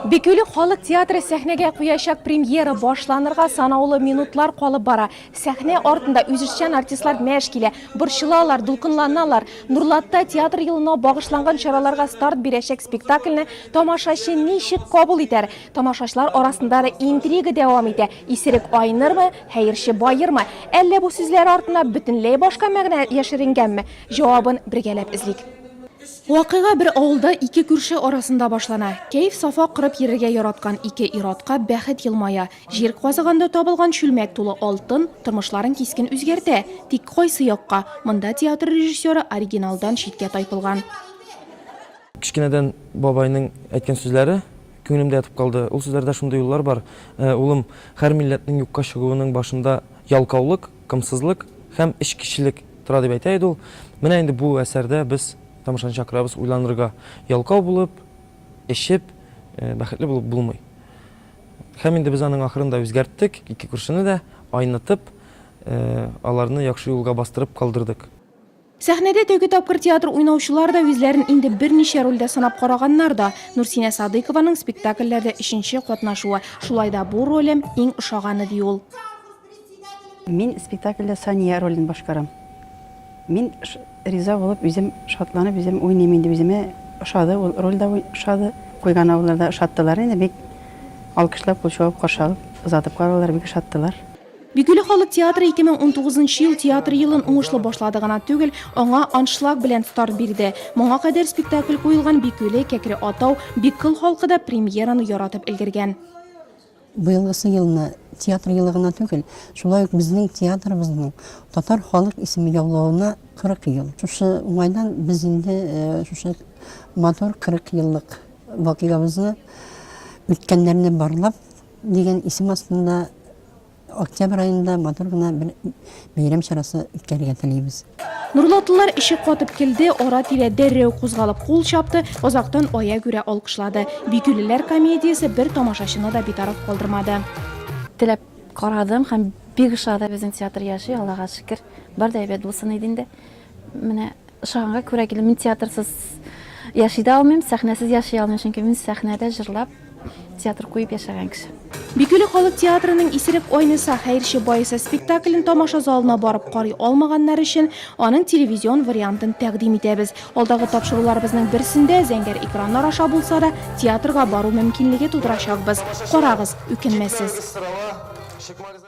Бикөйле халык театры сәхнәгә куячак премьера башланырга санаулы минутлар калып бара. Сәхнә артында үзешчән артистлар мәш килә, борчылалар, дулкынланалар. Нурлатта театр елына багышланган чараларга старт бирәчәк спектакльне тамашачы ничек кабул итәр? Тамашачлар арасында да интрига дәвам итә, исерек айнырмы, хәерче баермы? Әллә бу сүзләр артына бөтенләй башка мәгънә яшеренгәнме? Җавабын бергәләп эзлик. Вакыйга бер авылда ике күрше арасында башлана. Кәеф-сафа корып йөрергә яраткан ике ир-атка бәхет елмая. Җир казыганда табылган чүлмәк тулы алтын тормышларын кискен үзгәртә. Тик кайсы якка? Монда театр режиссеры оригиналдан читкә тайпылган. Кечкенәдән бабайның әйткән сүзләре күңелемдә ятып калды. Ул сүзләрдә шундый юллар бар, Улым, һәр милләтнең юкка чыгуының башында ялкаулык. Комсызлык һәм эчкечелек тора дип әйтә иде ул. Менә инде бу әсәрдә без тамашаны чакырабыз уйланырга, ялкау булып, эчеп, бәхетле булып булмый. Һәм инде без аның ахырын да үзгәрттек, ике күршене дә айнытып, аларны яхшы юлга бастырып калдырдык. Сәхнәдә тәүге тапкыр театр уйнаучылар да үзләрен инде берничә рольдә сынап караганнар да. Нурсинә Садыйкованың спектакльләрдә өченче катнашуы. Шулай да бу ролем иң ошаганы, ди ул. Мин спектакльдә Сания ролен башкарам. Мин риза булып, үзем шатланып, үзем уйныйм инде. Үземә ошады, ул роль дә ошады. Куйган авыллар да ошаттылар инде, бик алкышлап, кул чуып каршы алып, озатып карадылар, бик ошаттылар. Бигөйле халык театры 2019 нчы ел театр елын уңышлы башлады гына түгел, аңа аншлаг белән старт бирде. Моңа кадәр спектакль куелган Бикөйле, Кәкре Атау, Биккол халкы да премьераны яратып өлгергән. Быелгысы елны театр елы гына түгел, шулай ук безнең театрыбызның татар халык исеме яулавына 40 ел. Шушы уңайдан без инде шушы матур 40 еллык вакыйгабызны, үткәннәрне барлап, дигән исем астында, Октябрь аенда матур гына бер бәйрәм чарасы үткәрергә телибез. Нурлатлылар ишек катып келде, ара-тирә дәррәү кузгалып кул чапты, озактан ая күрә алкышлады. Бикүлеләр комедиясе бер тамашачыны да битараф калдырмады. Теләп карадым һәм бик ошады. Безнең театр яши, Аллага шөкер. Бар да әйбәт булсын иде инде. Менә Ошаганга күрә килдем. Мин театрсыз яши дә алмыйм, сәхнәсез яши алмыйм, чөнки мин сәхнәдә җырлап, театр куеп яшәгән кеше. Бикөле халык театрының Исерек айныса, хәерче баеса спектаклен тамаша залына барып карый алмаганнар өчен аның телевизион вариантын тәкъдим итәбез. Алдагы тапшыруларыбызның берсендә, зәңгәр экраннар аша булса да, театрга бару мөмкинлеге тудырачакбыз. Карагыз, үкенмәссез.